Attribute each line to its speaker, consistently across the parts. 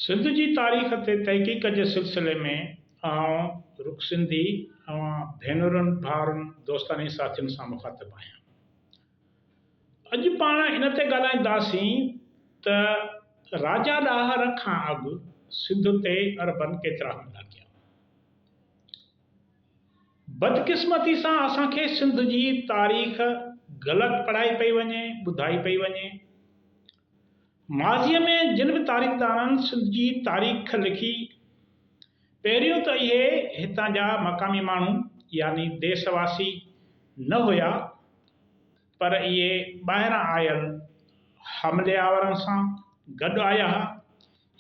Speaker 1: سنڌ جي تاريخ تي تحقيق جي سلسلي ۾ آئون رڳ سنڌي اوهان ڀينرن، ڀائرن، دوستاني ساٿين سان مخاطب آهيان. اڄ پاڻ ان تي ڳالهائينداسين ته راجا ڏاهر کان اڳ سنڌ تي عربن ڪيترا حملا ڪيا. بدقسمتي سان اسان کي سنڌ جي تاريخ غلط پڙهائي پئي وڃي، ٻڌائي پئي وڃي. ماضيء ۾ جن به تاريخدانن سنڌ جي تاريخ لکي، پهريون ته اهي هتان جا مقامي ماڻهو يعني ديس واسي نه هيا، پر اهي ٻاهران آيل حملي آورن سان گڏ آيا هيا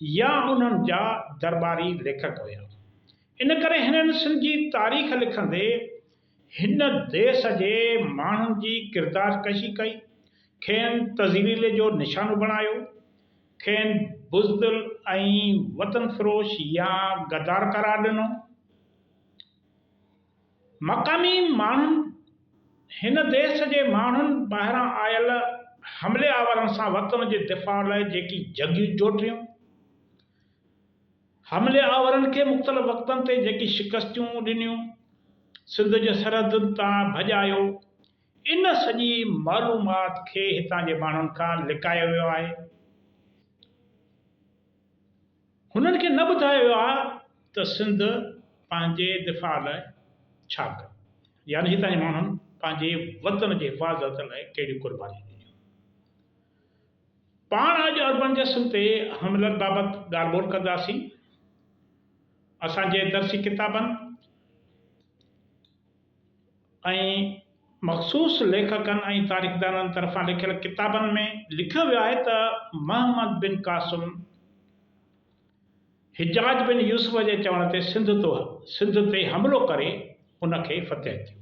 Speaker 1: يا انهن جا درٻاري ليکڪ هيا. ان ڪري هنن سنڌ جي تاريخ لکندي هن ديس جي ماڻهن جي ڪردار ڪشي ڪئي، کين تذليل جو نشانو بڻايو، کين بزدل ۽ وطن فروش يا غدار قرار ڏنو. مقامي ماڻهن هن ديس جي ماڻهن ٻاهران آيل حملي آورن سان وطن جي دفاع لاء جيڪي جنگيون جوٽيون، حملي آورن کي مختلف وقتن تي جيڪي شڪستيون ڏنيون، سنڌ جي سرحدن تان ڀڄايو، ان سڄي معلومات کي هتان جي ماڻهن کان لڪايو ويو آهي. هنن کي نه ٻڌايو ويو آهي ته سنڌ پنهنجي دفاع لاء ڇا ڪيو، يعني هتان جي ماڻهن پنهنجي وطن جي حفاظت لاء ڪهڙيون قربانيون ڏنيون. پاڻ اڄ اربن جسم تي حملن بابت ڳالهه ٻولهه ڪنداسين. اسان جي درسي ڪتابن ۽ مخصوص ليکڪن ۽ تاريخدانن طرفان لکيل ڪتابن ۾ لکيو ويو آهي ته محمد بن قاسم حجاج بن يوسف جي چوڻ تي سنڌ تي حملو ڪري ان کي فتح ٿيو.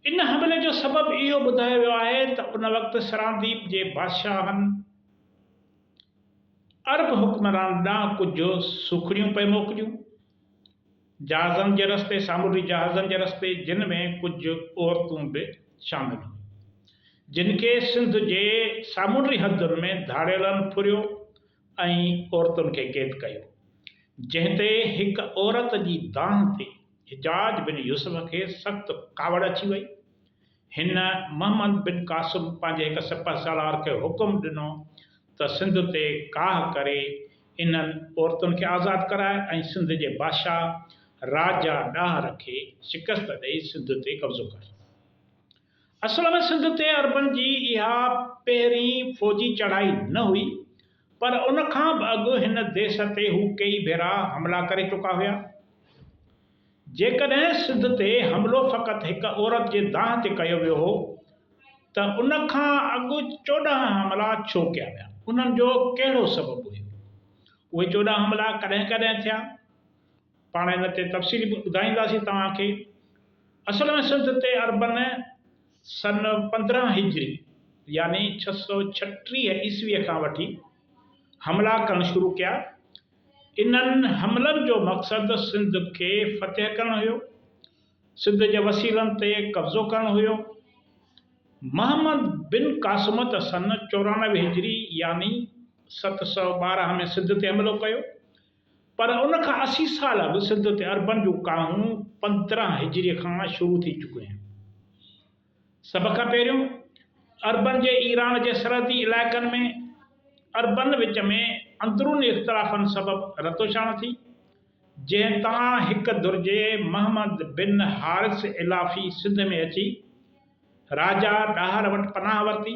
Speaker 1: ان حملي جو سبب اهو ٻڌايو ويو آهي ته ان وقت سرانديپ جي بادشاهن عرب حڪمران ڏانهن ڪجهه سوکڙيون پئي موڪليون، جهازن جي رستي، سامونڊي جهازن جي رستي، جن ۾ ڪجهه عورتون به شامل هيون، جن کي سنڌ جي سامونڊي حدن ۾ ڌاڙيلن ڦريو، ۽ عورتن کي قيد ڪيو، جنهن تي هڪ عورت جي دانهن تي حجاج بن يوسف کي سخت ڪاوڙ اچي وئي. هن محمد بن قاسم پنهنجي هڪ سپهه سالار کي حڪم ڏنو ته سنڌ تي ڪاهه ڪري انهن عورتن کي آزاد ڪرائي ۽ سنڌ جي بادشاهه راجا ڏاهر کي شڪست ڏئي سنڌ تي قبضو ڪر. اصل ۾ سنڌ تي عربن جي اها پهرين فوجي چڙهائي نه هئي پر ان کان به اڳ هن ديس تي هو ڪيئي ڀيرا حملا ڪري چڪا هيا. جيڪڏهن سنڌ تي حملو فقط هڪ عورت جي دانهن تي ڪيو ويو هو ته ان کان اڳ چوڏهن حملا ڇو ڪيا ويا؟ انهن جو ڪهڙو سبب هيو؟ اهي چوڏهن حملا ڪڏهن ڪڏهن ٿيا؟ پاڻ ان تي تفصيلي به ٻڌائينداسين توهان کي. اصل ۾ سنڌ تي عربن سن پندرهن هجري يعني ڇهه سؤ ڇٽيهه عيسويء کان وٺي حملا ڪرڻ شروع ڪيا. انهن حملن جو مقصد سنڌ کي فتح ڪرڻ هيو. سنڌ جي وسيلن تي قبضو ڪرڻ هيو. محمد بن قاسم ته سن چورانوي هجري يعني ست سؤ ٻارهن ۾ سنڌ تي حملو ڪيو. پر ان کان اسي سال اڳ سنڌ تي عربن جون ڪاهون پندرهن هجري کان شروع ٿي چڪيون آهن. سڀ کان پهريون عربن جي ايران جي سرحدي علائقن ۾ عربن وچ ۾ اندروني اختلافن سبب رتوڇاڻ ٿي، جنهن تان هڪ درجي محمد بن حارث علافي سنڌ ۾ اچي راجا ڏاهر وٽ پناهه ورتي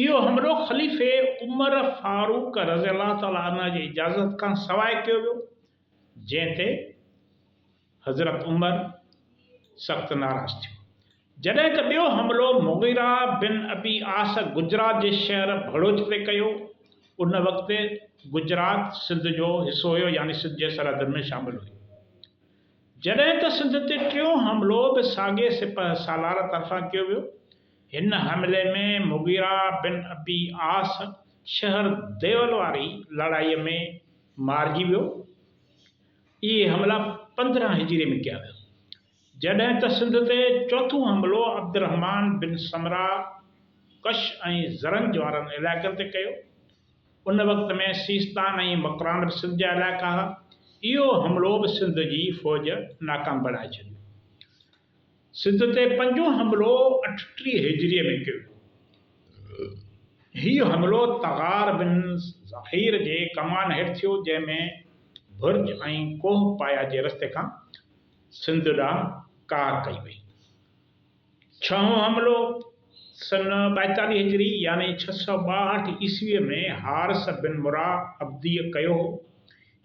Speaker 1: اهو حملو خليفي عمر فاروق رضي الله تعالٰي عنه جي اجازت کان سواء ڪيو ويو، جنهن تي حضرت عمر سخت ناراض ٿيو. جڏهن ته ٻيو حملو مغيره بن ابي عاص گجرات جي شهر ڀڙوچ تي ڪيو. ان وقت گجرات سنڌ جو حصو هيو يعني سنڌ جي سرحدن ۾ شامل هيو. جڏهن ته سنڌ تي ٽيون حملو به ساڳئي سپهه سالار طرفان ڪيو ويو. هن حملي ۾ مغيره بن ابي عاص شهر ديول واري لڙائي ۾ مارجي ويو. اهي حملا پندرهن هجري ۾ ڪيا ويا. جڏهن ته سنڌ تي چوٿون حملو عبدالرحمان بن سمره ڪش ۽ زرنج وارن علائقن تي ڪيو. ان وقت ۾ سيستان ۽ مڪران به سنڌ جا علائقا ها. اهو حملو به سنڌ جي فوج ناڪام بڻائي ڇڏيو. سنڌ تي پنجون حملو اٺٽيهه هجريء ۾ ڪيو ويو هو. هي حملو تغار بن زهير جي ڪمان هيٺ ٿيو، جنهن ۾ برج ۽ ڪوه پايا جي رستي کان سنڌ ڏانهن ڪار ڪئي وئي. ڇهون حملو سن ٻائيتاليهه هجري يعني ڇهه سؤ ٻاهٺ عيسويء ۾ حارث بن مرا عبديء ڪيو هو.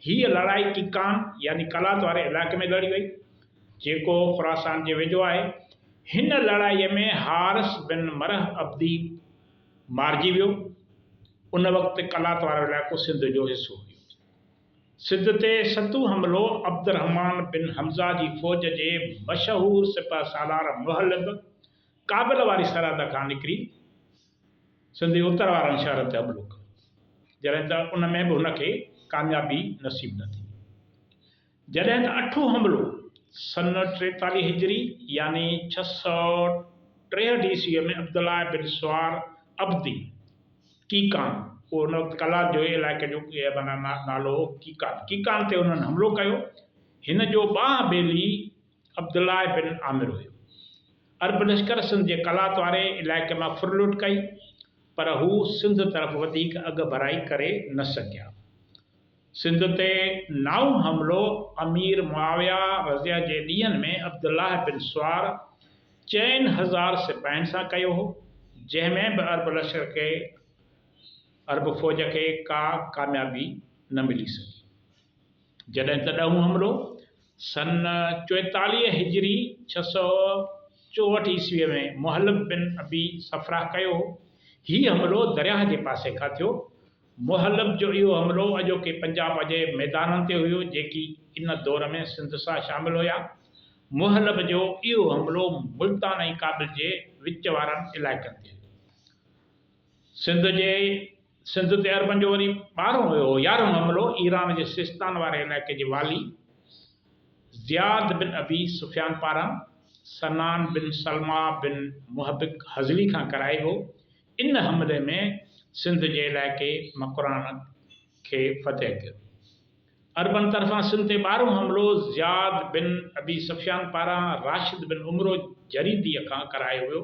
Speaker 1: هيء لڙائي ڪيڪان يعني قلات واري علائقي ۾ لڙي وئي. جيڪو خراسان جي ويجهو آهي. هن لڙائيء ۾ حارث بن مرح عبدي مارجي ويو. ان وقت قلات وارو علائقو سنڌ جو حصو هيو. سنڌ تي ستون حملو عبدالرحمان بن حمزه جي فوج جي مشهور سپهه سالار مهلب ڪابل واري سرحد کان نڪري سنڌ جي اتر وارن شهرن تي حملو ڪيو، جڏهن ته ان ۾ به هن کي ڪاميابي نصيب نه ٿي. جڏهن ته اٺون حملو سن ٽيتاليهه هجري يعني ڇهه سؤ ٽيهٺ عيسويء ۾ عبدالله بن سوار عبدي، ڪيڪان، اهو ان وقت قلات جو علائقي جو معنيٰ نالو هو ڪيڪان، ڪيڪان تي هنن حملو ڪيو. هن جو ٻانهن بيلي عبدالله بن عامر هيو. عرب لشڪر سنڌ جي قلات واري علائقي مان ڦر لٽ ڪئي، پر هو سنڌ طرف وڌيڪ اڳڀرائي ڪري نه سگهيا. سنڌ تي نائون حملو امير معاويه رضه جي ڏينهن ۾ عبدالله بن سوار چئن هزار سپاهين سان ڪيو هو، جنهن ۾ به عرب لشڪر کي عرب فوج کي ڪا ڪاميابي نه ملي سگهي. جڏهن ته ڏهون حملو سن چوئيتاليهه هجري ڇهه سؤ چوهٺ عيسويء ۾ مهلب بن ابي صفراه ڪيو هو. هي حملو درياهه جي پاسي کان ٿيو. مهلب جو اهو حملو اڄوڪي پنجاب جي ميدانن تي هيو، جيڪي ان دور ۾ سنڌ سان شامل هيا. مهلب جو اهو حملو ملتان ۽ ڪابل جي وچ وارن علائقن تي هيو. سنڌ جي سنڌ تي عربن جو وري ٻارهون هيو. يارهون حملو ايران جي سيستان واري علائقي جي والي زياد بن ابي سفيان پاران سنان بن سلميٰ بن محبق هذلي کان ڪرائي ويو، ان حملي ۾ سنڌ جي علائقي مڪران کي فتح ڪيو. عربن طرفان سنڌ تي ٻارهون حملو زياد بن ابي سفيان پاران راشد بن عمرو جريديء کان ڪرايو ويو.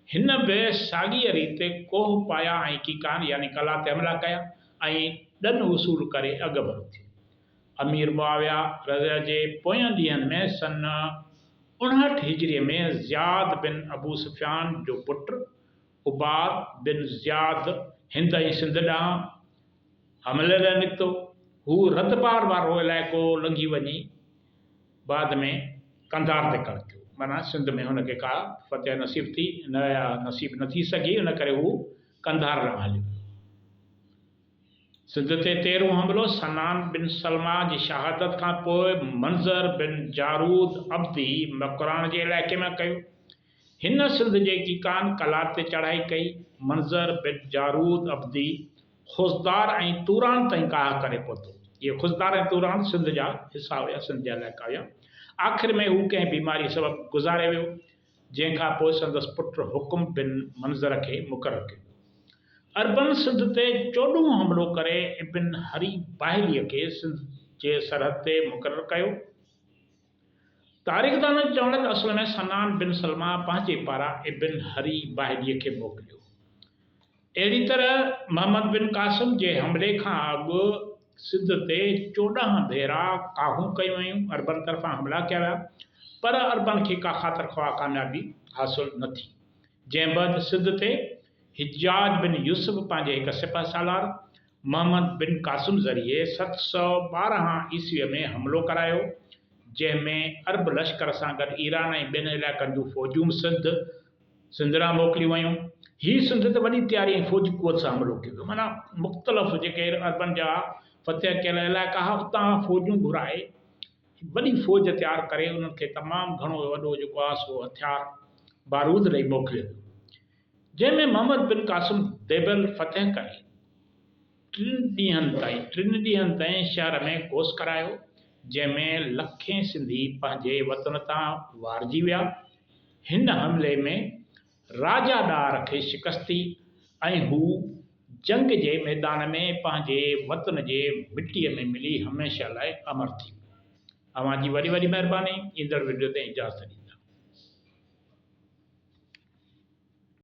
Speaker 1: هن به ساڳيء ريت ڪوه پايا ۽ ڪيڪان يعني قلعا تي حملا ڪيا ۽ ڏن وصول ڪري اڳڀرو ٿيو. امير معاويه رضه جي پوين ڏينهن ۾ سن اڻهٺ هجري ۾ زياد بن ابو سفيان جو پٽ عباد بن زياد هند ۽ سنڌ ڏانهن حملي لاء نڪتو. هو رتبار وارو علائقو لنگهي وڃي بعد ۾ قنڌار تي ڪڙڪيو. معنيٰ سنڌ ۾ هن کي ڪا فتح نصيب ٿي نه يا نصيب نه ٿي سگهي ان ڪري هو قنڌار ڏانهن هليو ويو. سنڌ تي تيرهون حملو، سنان بن سلمه جي شهادت کان پوء منظر بن جارود عبدي مڪران جي علائقي ۾ ڪيو. هن سنڌ جي ڪيڪان قلات تي چڙهائي ڪئي. منظر بن جارود عبدي خضدار ۽ توران تائين ڪاهه ڪري پهتو. اهي خضدار ۽ توران سنڌ جا حصا هيا، سنڌ جا علائقا هيا. آخر ۾ هو ڪنهن بيماري سبب گذاري ويو. جنهن کان پوء سندس پٽ حڪم بن منظر کي مقرر ڪيو ويو. عربن سنڌ تي چوڏهون حملو ڪري ابن هري باهليء کي سنڌ جي سرحد تي مقرر ڪيو. تاريخدانن جو چوڻ آهي ته اصل ۾ سنان بن سلمه پنهنجي پاران ابن هري باهليء کي موڪليو. اهڙي طرح محمد بن قاسم جي حملي کان اڳ سنڌ تي چوڏهن ڀيرا ڪاهون ڪيون ويون، عربن طرفان حملا ڪيا ويا پر عربن کي ڪا خاطر خواه ڪاميابي حاصل نه ٿي. جنهن بعد سنڌ تي حجاج بن يوسف پنهنجي هڪ سپهه سالار محمد بن قاسم ذريعي ست سؤ ٻارهن عيسويء ۾ حملو ڪرايو جنهن ۾ عرب لشڪر سان گڏ ايران ۽ ٻين علائقن جون فوجون سنڌ سندرا موڪليون ويون. هي سنڌ تي وڏي تياري ۽ فوجي قوت سان حملو ڪيو ويو. معنيٰ مختلف جيڪي عربن جا فتح ڪيل علائقا ها اتان فوجون گهرائي وڏي فوج تيار ڪري انهن کي تمام گهڻو وڏو جيڪو آهي سو هٿيار بارود ڏئي موڪليو ويو جنهن ۾ محمد بن قاسم ديبل فتح ڪري ٽن ڏينهن تائين ٽن ڏينهن تائين شهر ۾ ڪوس ڪرايو، جنهن ۾ لکين سنڌي پنهنجي وطن تان وارجي ويا. هن حملي ۾ راجا ڏاهر کي شڪست ٿي ۽ هو جنگ جي ميدان ۾ پنهنجي وطن جي مٽيء ۾ ملي هميشه لاء امر ٿي ويو. اوهان جي وڏي وڏي مهرباني ايندڙ وڊيو تائين اجازت ڏيندا.